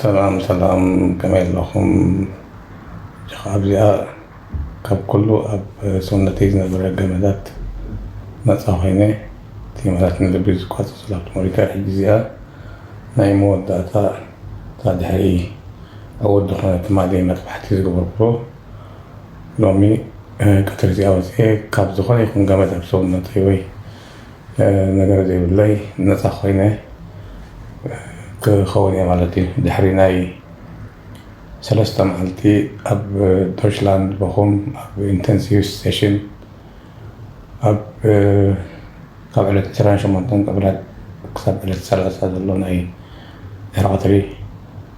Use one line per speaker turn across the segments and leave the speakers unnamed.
ሰላም ሰላም ከመይ ኣለኹም ጀኻ ኣብዚኣ ካብ ኩሉ ኣብ ሰውነተይ ዝነበረ ገመዳት ነጻ ኮይነ እቲ ማለት ንልቢ ዝቋጸር ሰላም ተመሪቀ ሕጂ እዚኣ ናይ መወዳእታ እታ ድሕሪ ዕውት ዝኾነ ትማሊ መጥባሕቲ ዝገበርኩዎ ሎሚ ቀትሪ እዚኣ ወጺኤ ካብ ዝኾነ ይኹን ገመድ ኣብ ሰውነተይ ወይ ነገር ዘይብለይ ነፃ ኮይነ ክከውን እየ ማለት እዩ ድሕሪ ናይ ሰለስተ መዓልቲ ኣብ ዶችላንድ በኹም ኣብ ኢንተንሲቭ ስቴሽን ኣብ ካብ ዕለት 28 ቀብላት ክሳብ ዕለት 30 ዘሎ ናይ ድሕሪ ቀትሪ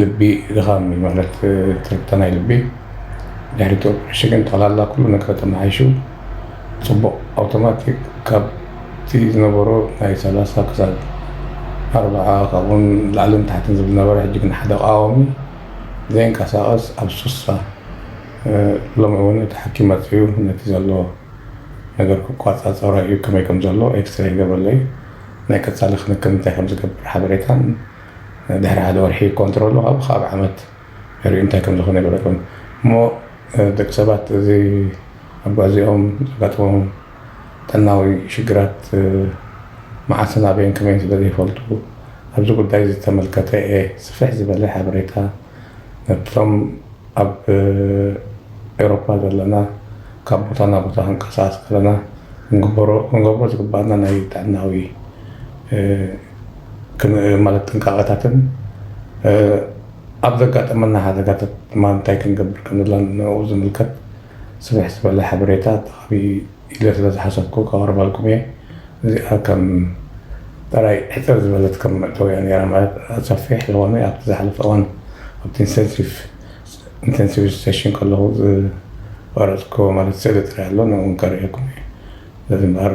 ልቢ ድኻም እዩ ማለት ትርግታ ናይ ልቢ ድሕሪቱ ሽግን ጠቕላላ ኩሉ ነገር ተመሓይሹ ፅቡቕ ኣውቶማቲክ ካብቲ ዝነበሮ ናይ ሰላሳ ክሳብ ኣርብዓ ካብኡን ላዕልን ታሕትን ዝብል ነበረ ሕጂ ግን ሓደ ቃዋሚ ዘይንቀሳቐስ ኣብ ሱሳ ሎሚ እውን እቲ ሓኪም መፅኡ ነቲ ዘሎ ነገር ክቋፃፀሮ እዩ ከመይ ከም ዘሎ ኤክስሬ ይገብረለይ ናይ ቀፃሊ ክንክን እንታይ ከም ዝገብር ሓበሬታን ድሕሪ ሓደ ወርሒ ኮንትሮሉ ካብኡ ክኣ ብ ዓመት ንሪኡ እንታይ ከም ዝኮነ ይግለጹ እሞ ደቂ ሰባት እዚ ኣጓዚኦም ዘጋጥሞም ጥዕናዊ ሽግራት መዓስን ኣበይን ከመይን ስለ ዘይፈልጡ ኣብዚ ጉዳይ ዝተመልከተ እየ ስፍሕ ዝበለ ሓበሬታ ነብቶም ኣብ ኤውሮፓ ዘለና ካብ ቦታ ናብ ቦታ ክንቀሳቀስ ከለና ክንገብሮ ዝግባኣና ናይ ጥዕናዊ ማለት ጥንቃቐታትን ኣብ ዘጋጠመና ሓደጋታት ድማ እንታይ ክንገብር ከምዘላን ንዕኡ ዝምልከት ስፍሕ ዝበለ ሓበሬታ ተኻቢ ኢለ ስለ ዝሓሰብኩ ከቕርበልኩም እየ እዚኣ ከም ጥራይ ሕፅር ዝበለት ከም መእተውያ ነይራ ማለት ሰፊሕ ዝኾነ ኣብቲ ዝሓለፈ እዋን ኣብቲ ኢንቴንሲቭ ኢንቴንሲቭ ሴሽን ከለኹ ዝቐረፅኩ ማለት ስእሊ ጥራይ ኣሎ ንዕኡ ከርእየኩም እየ ስለዚ እምበኣር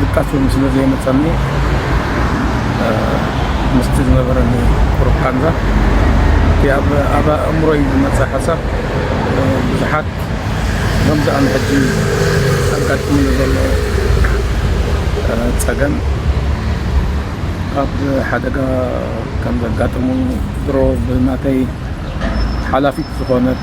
ድቃስ እውን ስለ ዘየመጸኒ ምስቲ ዝነበረኒ ቁሩብ ቃንዛ እቲ ኣብ ኣእምሮይ ዝመጸ ሓሳብ ብዙሓት ከምዚ ኣነ ሕጂ ኣጋጢሙኒ ዘሎ ጸገም ካብ ሓደጋ ከም ዘጋጥሙ ድሮ ብናተይ ሓላፊት ዝኾነት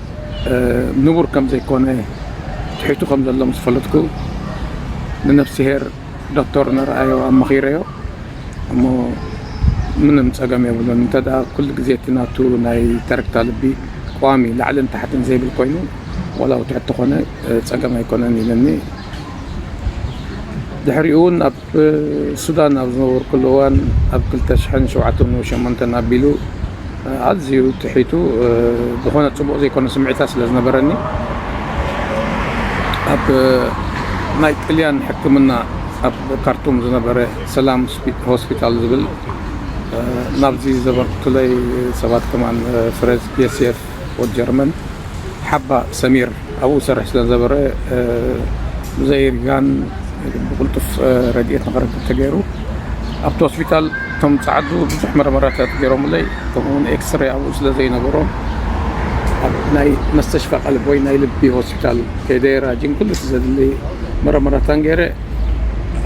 ንቡር ከም ዘይኮነ ትሒቱ ከም ዘሎ ምስ ፈለጥኩ ንነፍስሄር ዶክተር ነርኣዮ ኣማኺረዮ እሞ ምንም ጸገም የብሉን እንተ ኩሉ ግዜ እቲ ናቱ ናይ ተረግታ ልቢ ቋሚ ላዕልን ታሕትን ዘይብል ኮይኑ ዋላ ውትሕት ተኾነ ጸገም ኣይኮነን ኢለኒ ድሕሪኡ እውን ሱዳን ኣብ ዝነበርኩሉ እዋን ኣብ ክልተ ሽሕን ሸውዓተን ወይ ሸሞንተን ኣቢሉ ኣዝዩ ጥሒቱ ዝኾነ ጽቡቕ ዘይኮነ ስምዒታት ስለ ዝነበረኒ ኣብ ናይ ጥልያን ሕክምና ኣብ ካርቱም ዝነበረ ሰላም ሆስፒታል ዝብል ናብዚ ዘበርክቱለይ ሰባት ከማን ፍረዝ ፒኤስኤፍ ወድ ጀርመን ሓባ ሰሚር ኣብኡ ዝሰርሕ ስለ ዝነበረ ብዘይርጋን ብቕልጡፍ ረድኤት ንክረክብ ተገይሩ ኣብቲ ሆስፒታል እቶም ፃዓዱ ብዙሕ መርመራታት ገይሮምለይ ከምኡውን ኤክስሬ ኣብኡ ስለ ዘይነበሮ ናይ መስተሽፋ ቀልብ ወይ ናይ ልቢ ሆስፒታል ከይደ ራጂን ኩሉ እቲ ዘድሊ መረመራታን ገይረ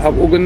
ኣብኡ ግን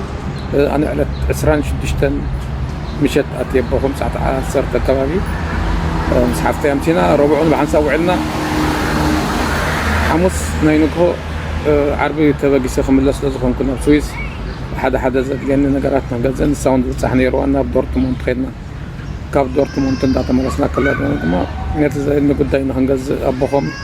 ኣነ ዕለት ዕስራን ሽዱሽተን ምሸት ኣትየ ኣቦኹም ሰዓት ዓሰርተ ኣካባቢ ምስ ሓፍተይ ኣምሲና ረቡዕ እውን ብሓንሳብ ውዒልና ሓሙስ ናይ ንግሆ ዓርቢ ተበጊሰ ክምለስ ስለ ዝኾንኩ ናብ ስዊዝ ሓደ ሓደ ዘድልየኒ ነገራት ናብ ገዘ ንሳ እውን ዝብፃሕ ነይርዋ ናብ ዶርትሞንት ከድና ካብ ዶርትሞንት እንዳተመለስና ከለና ድማ ነቲ ዘድሊ ጉዳይ ንክንገዝእ ኣቦኾም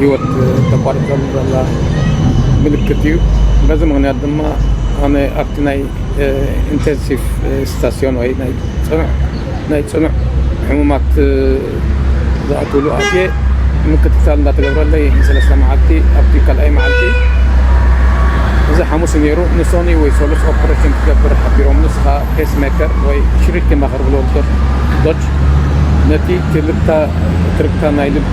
ህይወት ተቋሪጸሉ ዘላ ምልክት እዩ። በዚ ምኽንያት ድማ ኣነ ኣብቲ ናይ ኢንተንሲቭ ስታስዮን ወይ ናይ ጽኑዕ ናይ ጽኑዕ ሕሙማት ዝኣትውሉ ኣትየ ምክትታል እንዳተገብረለይ ንሰለስተ መዓልቲ ኣብቲ ካልኣይ መዓልቲ እዚ ሓሙስ ነይሩ ንሶኒ ወይ ሰሉስ ኦፕሬሽን ክትገብር ሓቢሮም ንስኻ ፔስ ሜከር ወይ ሽሪክ ማኸር ብሎ ዶች ነቲ ትርግታ ናይ ልቢ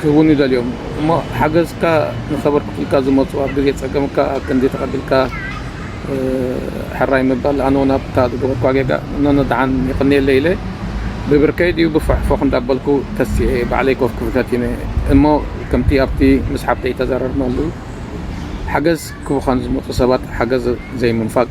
ክህቡም ይደልዮም እሞ ሓገዝካ ንከበርክቱልካ ዝመጹ ኣብ ግዜ ጸገምካ ኣብ ክንዲ ተቀቢልካ ሕራይ ምባል ኣነውን ኣብታ ዝገበርክዋ ጌጋ እኖኖ ደሓን የቀንየለይ ኢለ ብብርከይ ድዩ ብፎሕ ፎኽ እንዳበልኩ ተሲኤ ባዕለይ ኮፍ ክብል ፈቲነ እሞ ከምቲ ኣብቲ ምስ ሓብተይ እተዛረርናሉ ሓገዝ ክቡካ ንዝመጹ ሰባት ሓገዝ ዘይምንፋግ